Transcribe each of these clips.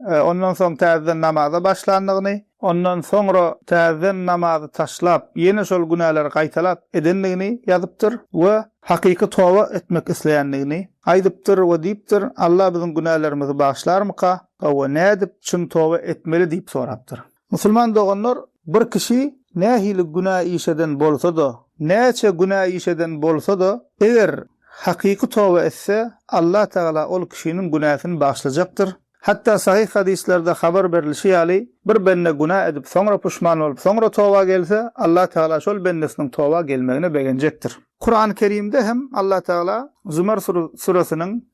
Ondan soň täzeden namaza başlandygyny. Ondan soňra täzeden namazy taşlap, ýene şol günäleri gaýtalap edendigini ýazypdyr we hakyky toba etmek isleýändigini aýdypdyr we diýipdir, Alla biziň günälerimizi bagyşlarmyka? Hawa, nädip çyn toba etmeli diýip sorapdyr. Musulman doganlar, bir kişi nähili günä iş eden bolsa-da, näçe günä iş eden bolsa-da, eger hakyky toba etse, Allah Tagala ol kişiniň günäsini bagyşlajakdyr. Hatda sahyh hadyslarda habar berilişi ýaly, bir bende günä edip, soňra puşman bolup, soňra toba gelse, Allah Tagala şol bendesiniň toba gelmegine begenjekdir. Kurany Kerimde hem Allah Tagala Zumar süresiniň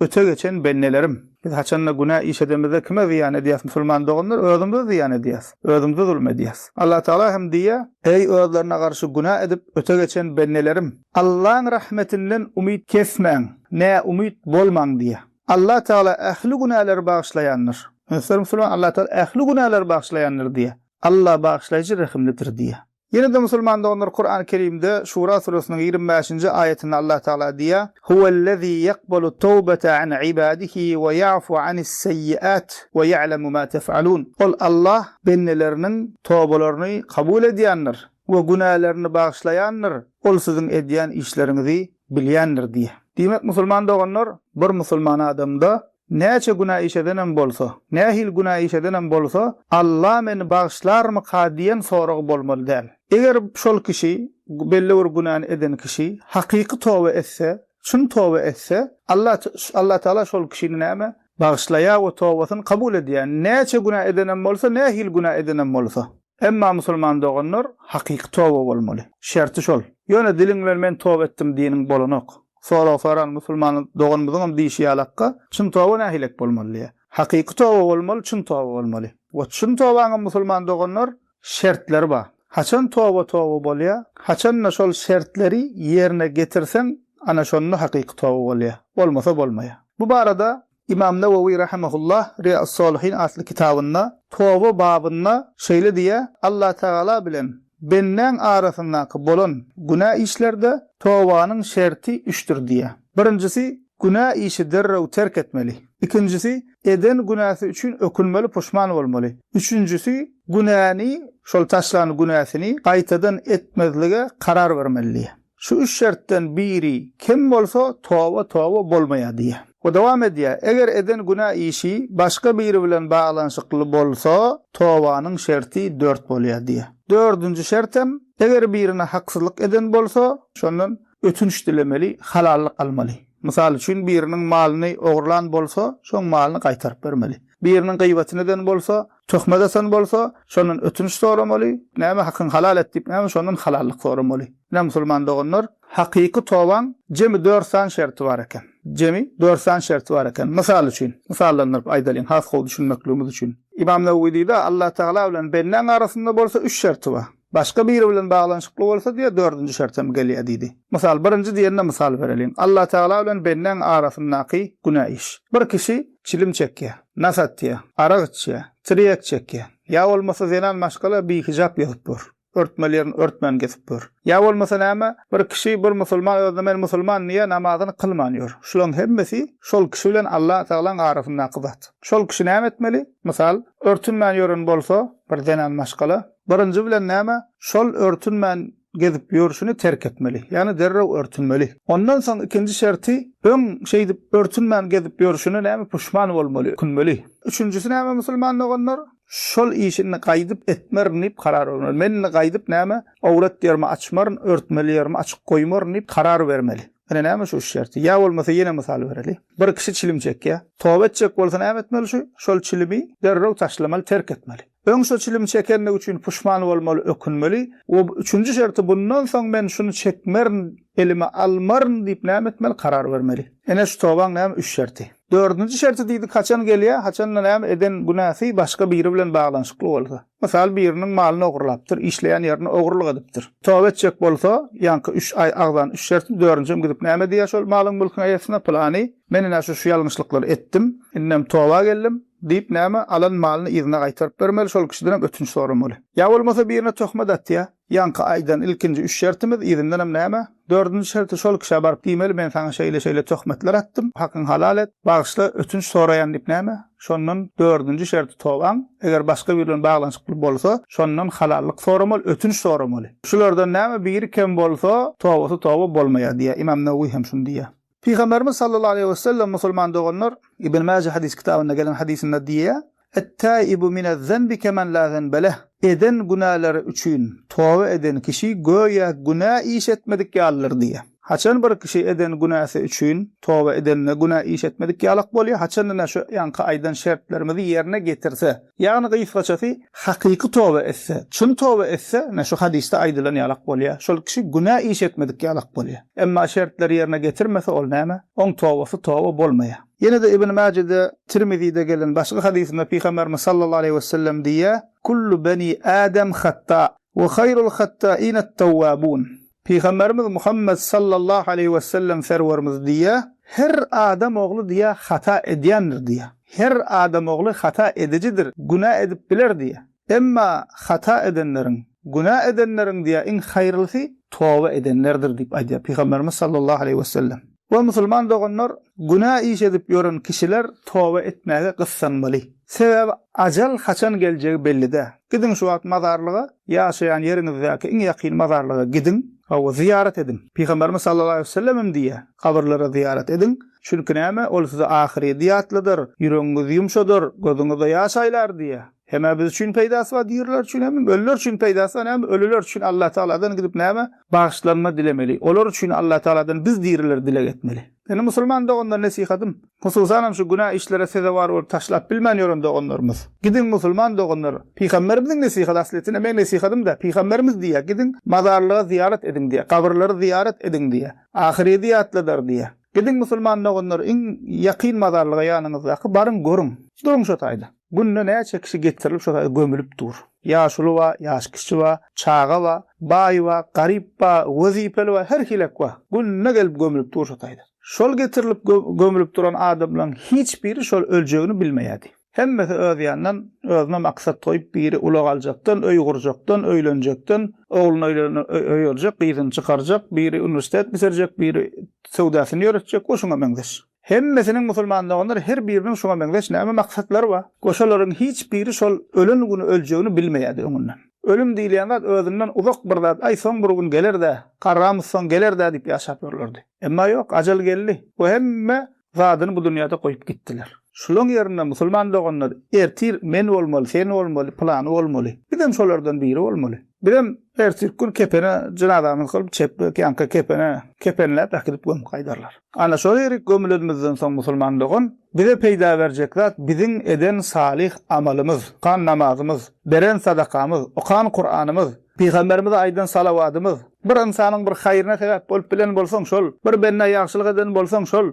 Öte geçen bennelerim! Biz haçanda günä iş edemizde kime zyýan edýäs, musulman doganlar? Özümize zyýan edýäs. Özümize zulum edýäs. Allatagala hem diýýär, Eý, özlerine garşy günä edip öte geçen bennelerim! Allaň rahmetinden umyt kesmäň, näumyt bolmaň diýýär. Allatagala ähli günäleri bagyşlaýandyr. Möhterem musulman, Allatagala ähli günäleri bagyşlaýandyr diýýär. Alla bagyşlaýjy, rehimlidir diýýär. Ýene-de musulman doganlar Kurany Kerimde Şura suresiniň ýigrimi bäşinji aýatynda Allah Tagala diýýär, Huwellezî ýakbalu tawbata an ibadihî we ýafu anis seýiat we ýa'lemu ma tef'alun. Ol Allah bendeleriniň tobalaryny kabul edýändir we günälerini bagyşlaýandyr, Ol siziň edýän işleriňizi bilýändir diýýär. Diýmek musulman doganlar bir musulman adamda Näçe günä iş edenem bolsa, nähili günä iş edenem bolsa, Alla meni bagyşlarmyka diýen sorag bolmaly däl. Eger şol kişi, belli bir günäni eden kişi, hakyky toba etse, çyn toba etse, Alla Allatagala şol kişini näme, bagyşlaýar we tobasyny kabul edýär, näçe günä edenem bolsa, nähili günä edenem bolsa. Emma musulman doganlar hakyky toba bolmaly. Şerti şol. Ýöne diliň bilen men toba etdim diýeniň bolanok. Sorag soran musulman doganymyzyňam diýşi ýalakka, çyn toba nähilek bolmaly diýýär. Hakyky toba bolmaly, çyn toba bolmaly. We çyn tobaňam musulman doganlar şertleri bar. Haçan toba toba bolýar? Haçan-da şol şertleri ýerine getirseň, ana şonda hakyky toba bolýar. Bolmasa bolmaýar. Bu barada Ymam Nawawi rahimehullah Riýaus-Solihin atly kitabynda Toba babynda şeýle diýýär, Allatagala bilen bendäň arasyndaky bolan günä işlerde tobanyň şerti üçdir diýýär. Birinjisi, günä işi derrew terk etmeli. Ikinjisi, eden günäsi üçin ökünmeli, puşman bolmaly. Üçünjisi, günäni, şol taşlan günäsini gaýtadan etmezlige karar bermeli diýýär. Şu üç şertden biri kem bolsa, toba toba bolmaýar diýýär. We dowam edýär, Eger eden günä işi başga biri bilen baglanyşykly bolsa, tobanyň şerti dört bolýar diýýär. Dördünji şert hem, eger birine haksyzlyk eden bolsa, şondan ötünç dilemeli, halallyk almaly. Mysal üçin, biriniň malyny ogurlan bolsa, şoň malyny gaýtaryp bermeli. Biriniň gyýbatyny eden bolsa, Töhmet atan bolsa, şondan ötünç soramaly, näme hakyňy halal et diýip, näme şondan halallyk soramaly. Ine, musulman doganlar, hakyky tobaň jemi dört sany şerti bar eken. Jemi dört sany şerti bar eken. Mysal üçin, mysallandyryp aýdalyň, has gowy düşünmekligimiz üçin. Ymam Newewi diýdi, Allatagala bilen bendäň arasynda bolsa üç şerti bar. Başga biri bilen baglanyşykly bolsa diýýär, dördünji şert hem gelýär diýdi. Mysal, birinji diýende mysal bereliň. Allatagala bilen bendäň arasyndaky günä iş. Bir kişi çilim çekýär, nas atýar, arak içýär, tirýek çekýär. Ýa bolmasa zenan maşgala bihijap gezip ýör. Örtmeli ýerini örtmän gezip ýör. Ýa bolmasa näme, bir kişi, bir musulman özüne men musulman diýýär, namazyny kylman ýör. Şularyň hemmesi şol kişi bilen Allatagalaň arasyndaky zat. Şol kişi näme etmeli? Mysal, örtünmän ýören bolsa bir zenan maşgala, Birinji bilen näme? Şol örtünmän gezip ýörşüni terk etmeli. Ýagny derrew örtünmeli. Ondan soň ikinji şerti, öň şeýdip örtünmän gezip ýörşüne näme puşman bolmaly, ökünmeli. Üçünjisi näme musulman doganlar? Şol işi indi gaýdyp etmerin diýip karar bermeli. Men indi gaýdyp näme, awrat ýerimi açmaryn, örtmeli ýerimi açyk goýmaryn diýip karar bermeli. Ine näme şu üç şerti. Ýa bolmasa ýene mysal bereli. Bir kişi çilim çekýär. Toba etjek bolsa näme etmeli şu? Şol çilimi derrew taşlamaly, terk etmeli. Öň şu çilim çekenligi üçin puşman bolmaly, ökünmeli we üçünji şerti bundan soň men şuny çekmerin, elime almaryn diýip näme etmeli, karar bermeli. Ene şu tobaň näme üç şerti. Dördünji şerti diýdik haçan gelýär, haçan-da näme eden günäsi başga biri bilen baglanyşykly bolsa. Mysal biriniň malyny ogurlapdyr, işleýän ýerini ogurlyk edipdir. Toba etjek bolsa, ýaňky üç aý agzan üç şerti, dördünjem gidip näme diýer şol malyň-mülküň eýesine, pylany, men ine şu-şu ýalňyşlyklary etdim, indem toba geldim, Diýip näme, alan malyny yzyna gaýtaryp bermeli, şol kişidenem ötünç soramaly. Ýa bolmasa birine töhmet atýa, ýaňky aýdan ilkinji üç şertimiz, yzyndanam näme, dördünji şerti şol kişä baryp diýmeli, men saňa şeýle-şeýle töhmetler atdym, hakyňy halal et, bagyşla, ötünç soraýan diýip näme, şondan dördünji şerti tobaň, eger başga biri bilen baglanyşykly bolsa, şondan halallyk soramaly, ötünç soramaly. Şulardan näme biri kem bolsa, tobasy toba bolmaýar diýýär. Ymam Newewi hem şuny diýýär. Pygamberimiz sallallahu aleýhi we sellem musulman doganlar, Ibn Maje hadys kitabynda gelen hadysynda diýýär, Et-taibu minez-zenbi kemen la zenbe leh, Eden günäleri üçin toba eden kişi göýä günä iş etmedik ýalydyr diýýär. Haçan bir kişi eden günäsi üçin toba edende günä iş etmedik ýalak bolýar, haçanda-da şu ýanky aýdan şertlerimizi ýerine getirse, Ýagny gysgaçasy, hakyky toba etse, çyn toba etse, ine, şu hadysda aýdylan ýalak bolýar. Şol kişi günä iş etmedik ýalak bolýar. Emma şertleri ýerine getirmese, ol näme? Oň tobasy toba bolmaýar. Ýene-de Ibn Mäjede, Tirmizide gelen başga hadysynda Pygamberimiz sallallahu aleýhi wesellem diýýär, Kullu beni Adam hatta, we haýrul hattainat-tawwabun. Pygamberimiz Muhammet sallallahu aleýhi wesellem Serwerimiz diýýär, Her adam ogly diýýär hata edýändir diýýär. Her adam ogly hata edijidir, günä edip biler diýýär. Emma hata edenleriň, günä edenleriň diýýär iň haýyrlysy toba edenlerdir diýip aýdýar Pygamberimiz sallallahu aleýhi wesellem. O musulman doganlar, günä iş edip ýören kişiler toba etmäge gyssanmaly. Sebäbi ajal haçan geljegi belli dä. Gidiň şu wagt mazarlyga, ýaşaýan ýeriňizdäki iň ýakyn mazarlyga gidiň, hawa, zyýarat ediň. Pygamberimiz sallallahu aleýhi wesellem hem diýýär, Kabyrlara zyýarat ediň, çünki näme, ol size ahyrýdy ýatladar, ýüregiňizi ýumşadar, gözüňizde ýaş aýlar diýýär. Hem-ä biz üçin peýdasy bar diriler üçin hem ölüler üçin peýdasy bar näme ölüler üçin Allah tagaladan gidip näme bagyşlanma dilemeli olar üçin Allah tagaladan biz diriler dileg etmeli. Indi musulman doganlar nesihatym hususanam şu günä işlere sezewar bolup taşlap bilmän ýören doganlarymyz gidiň musulman doganlar pygamberimiziň nesihaty aslyýetinde meň nesihatymda pygamberimiz diýýär gidiň mazarlyga zyýarat ediň diýýär gabrylary zyýarat ediň diýýär ahyrýeti ýatladar diýýär gidiň musulman doganlar iň ýakyn mazarlyga ýanyňyzdaky baryň görüň duruň şo taýda. Günde näçe kişi getirilip şo saýda gömülip dur. Ýaşuly ba, ýaş kişi ba, çaga ba, baý ba, garyp ba, wezipeli ba, her hilek ba. Günde gelip gömülip dur şo saýda. Şol getirilip gömülip duran adamlaň hiç biri şol öljegini bilmeýärdi. Hemmesi öz ýanyndan özüne maksat goýup biri ulag aljakdan, öý gurjakdan, öýlenjekden, ogluny öýlenen öý aljak, gyzyny çykarjak, biri uniwersitet bitirjek, biri söwdasyny ýöretjek we şuňa meňzeş. Hemmesiniň musulman doganlar her biriniň şuňa meňzeş näme maksatlary bar? Goşalaryň hiç biri şol ölen güni öljegini bilmeýärdi öňünden. Ölüm diýilýän zat özünden uzak bir zat, aý soň bir gün geler-dä, garramyz soň geler-dä diýip ýaşap ýörlerdi. Emma ýok, ajal geldi we hemme zadyny bu dünýäde goýup gitdiler. Şulaň ýerine musulman doganlar ertir men bolmaly, sen bolmaly, pylany bolmaly. Bizem şolardan biri bolmaly. Bizem Erteki gün kepene jenazamyzy kylyp çepbek ýanka kepene kepenläp äkidip gömüp gaýdarlar. Ana şol ýerik gömülenimizden soň musulman dogan bize peýda berjek zat biziň eden salyh amalymyz, tutan namazymyz, beren sadakamyz, okan kuranymyz, pygamberimize aýdan salawatymyz, bir ynsanyň bir haýryna sebäp bolup bilen bolsaň şol, bir bendä ýagşylyk eden bolsaň şol,